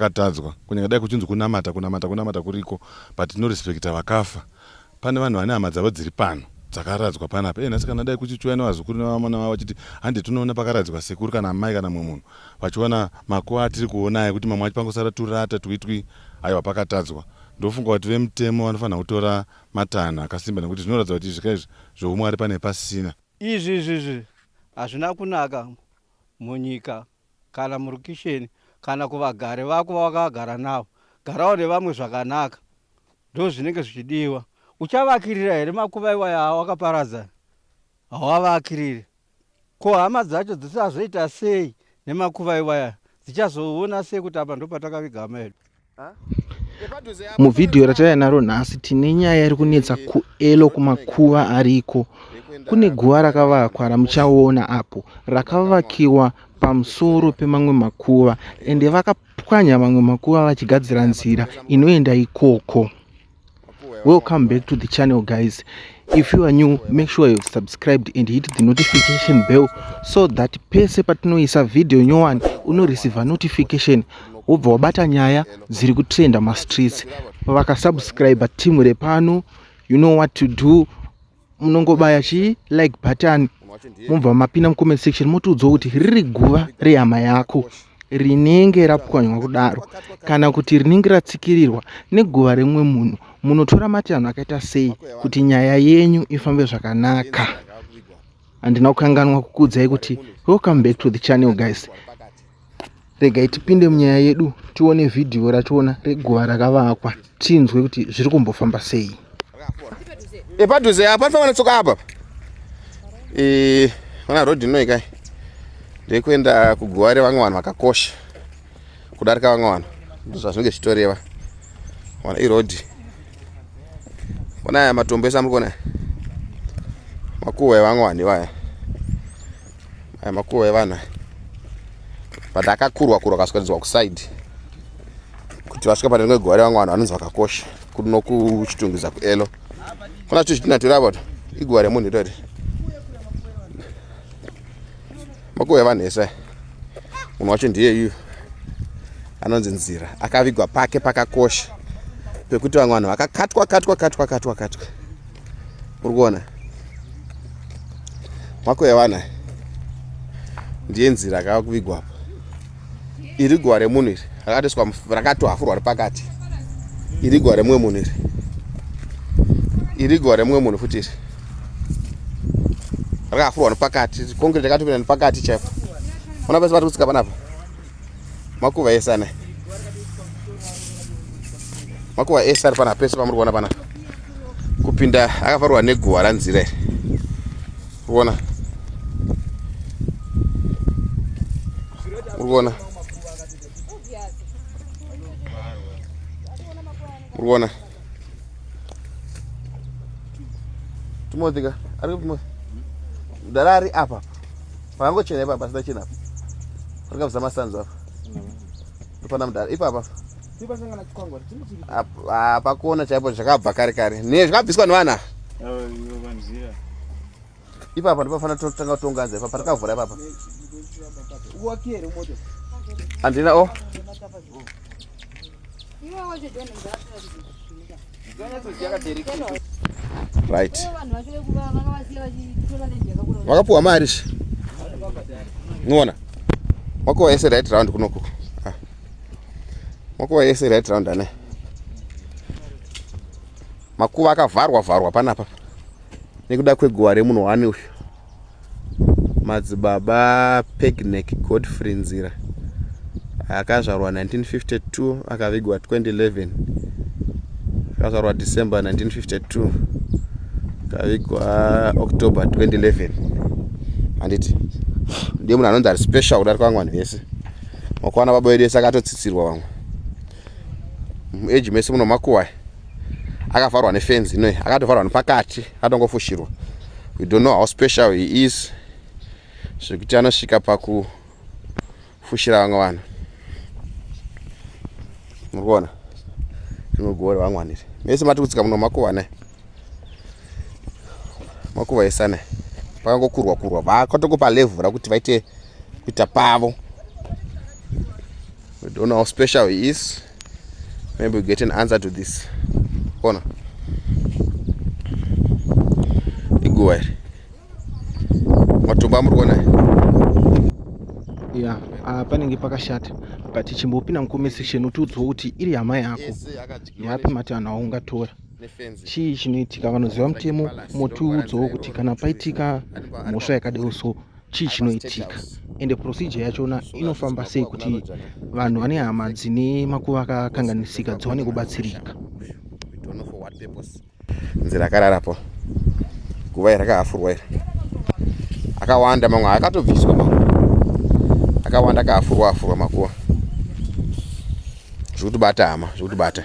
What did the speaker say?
akatadzwa kunyanya dai kuchinzi kunamata kunamata kunamata kuriko but tinorespekta vakafa pane vanhu vane hama dzavo dziri pano dzakaradzwa panapa enhasi kana dai kuchichiuya nevazukuru nevamana vavo vachiti handi tinoona pakaradzikwa sekuru kana amai kana mumwe munhu vachiona makuva atiri kuona aya kuti mamwe acho pangosara turata twitwi aiwa pakatadzwa ndofunga kuti vemutemo vanofanira kutora matanho akasimba nekuti zvinoratidza kuti izvika izvi zvoumwari pane pasina izvi izvi izvi hazvina kunaka munyika kana murukisheni kana kuvagari vako vawakagara navo garawo nevamwe zvakanaka ndozvinenge zvichidiwa uchavakirira here makuva iwaya awakaparadza hawavakirire ko hama dzacho dzisazoita sei nemakuva iwaya dzichazoona sei kuti apa ndopatakaviga hama yedu Muvhidhiyo rataiya naro nhasi tine nyaya iri kunetsa kuelo kumakuva ariko kune guva rakavakwa ramuchaona apo rakavakiwa pamusoro pemamwe makuva ende vakapwanya mamwe makuva vachigadzira nzira inoenda ikoko welcome back to the channel guys if you are new make sure you've subscribed and hit the notification bell so that pese patinoisa video nyowani unoreceiva notification wobva wabata nyaya dziri kutrenda mastreets vakasubscribe team repano you know what to do munongobaya chi like button mobva mapinda mucomment section motiudzwa kuti riri guva rehama yako rinenge rapwanywa kudaro kana kuti rinenge ratsikirirwa neguva remumwe munhu munotora matanho akaita sei kuti nyaya yenyu ifambe zvakanaka handina kukanganwa kukuudzai kuti welcome back to the channel guys regai tipinde munyaya yedu tione vhidhiyo rachona reguva rakavakwa tinzwe kuti zviri kumbofamba sei epadhuze apa panofanira tsoka apa e, mana road inoi kai ndekuenda kuguva revamwe vanhu vakakosha kudarika vamwe vanhu ndozvazvinenge zvichitoreva ona iroad ona aya matombo ese amuri kuona makuva evamwe vanhu ivaya aya makuva evana but akakurwa kurwa akaswanidzwa kuside kuti vasvika pane rimwe gore vamwe vanhu vanonzi vakakosha kuno kuchitungiza kuelo kuna zvito zvitina tori apo iguva remunhu itori makuva evanhu ese munhu wacho ndiye iyu anonzi nzira akavigwa pake pakakosha pekuti vamwe vanhu vakakatwa katwa katwa katwa katwa, katwa. uri kuona mako yevana ndiye nzira akava kuvigwa apa iri guva remunhu iri rakatoiswa rakatohafurwa repakati iri guva remumwe munhu iri iri guva remumwe munhu futi iri rakahafurwa nepakati kongireti yakatopinda nepakati chaipo ona pese pati kutsika panapa makuva ese ane makuva ese ari pana pese pamuri kuona pana kupinda akafarwa neguva ranzira iri kuona uri kuona uri kuona tumotika ari kutumotika mdara ari apa Pakangochena ipapa pasina chena apa. Pakabvisa masanzu apa. Ndopana mudhara ipapa apa. Apa pakona chaipo zvakabva kare kare. Ne zvakabviswa nevana. Ipapa ndopafana totanga kutonga nze ipapa takavhura ipapa. Andina o. Oh. right vakapuwa mari shi niona makuva yese right round kunoku ah. makuva yese right round ane makuva akavharwa vharwa panapa nekuda kweguva remunhu wani uyu madzibaba pegnek godfrey nzira akazvarwa 1952 akavigwa 2011 akazvarwa december 1952 akavigwa october 2011 handiti ndiye munhu anonzi ari special kudarika vamwe vanhu vese makwana baba vedu ese akatotsitsirwa vamwe muage mese munomakuwai akavharwa nefenzi inoyi akatovharwa nepakati atongofushirwa we don't know how special he is zvekuti anosvika pakufushira vamwe vanhu muri kuona rimwe gore vangwaniri mese mati kutsika muno makuva ne makuva ese ne pakangokurwa kurwa vakatokupa levhu rakuti vaite kuita pavo we don't know how special he is maybe we get an answer to this ona iguva iri matombo amuri kuona ya ah, panenge pakashata but chimbopinda mucomment section utiudzwa kuti iri hama yako yapi mati vanhu aungatora chii chinoitika vanoziva mutemo motiudzawo kuti kana paitika mhosva yakadero so chii chinoitika ende procedure yachona inofamba sei kuti vanhu vane hama dzine makuva akakanganisika dziwane kubatsirika nzira akararapo guva iri akaafurwa iri akawanda mamwe akatobviswa mamwe akawanda akaafurwa afurwa makuva zvekutibata hama zvekutibata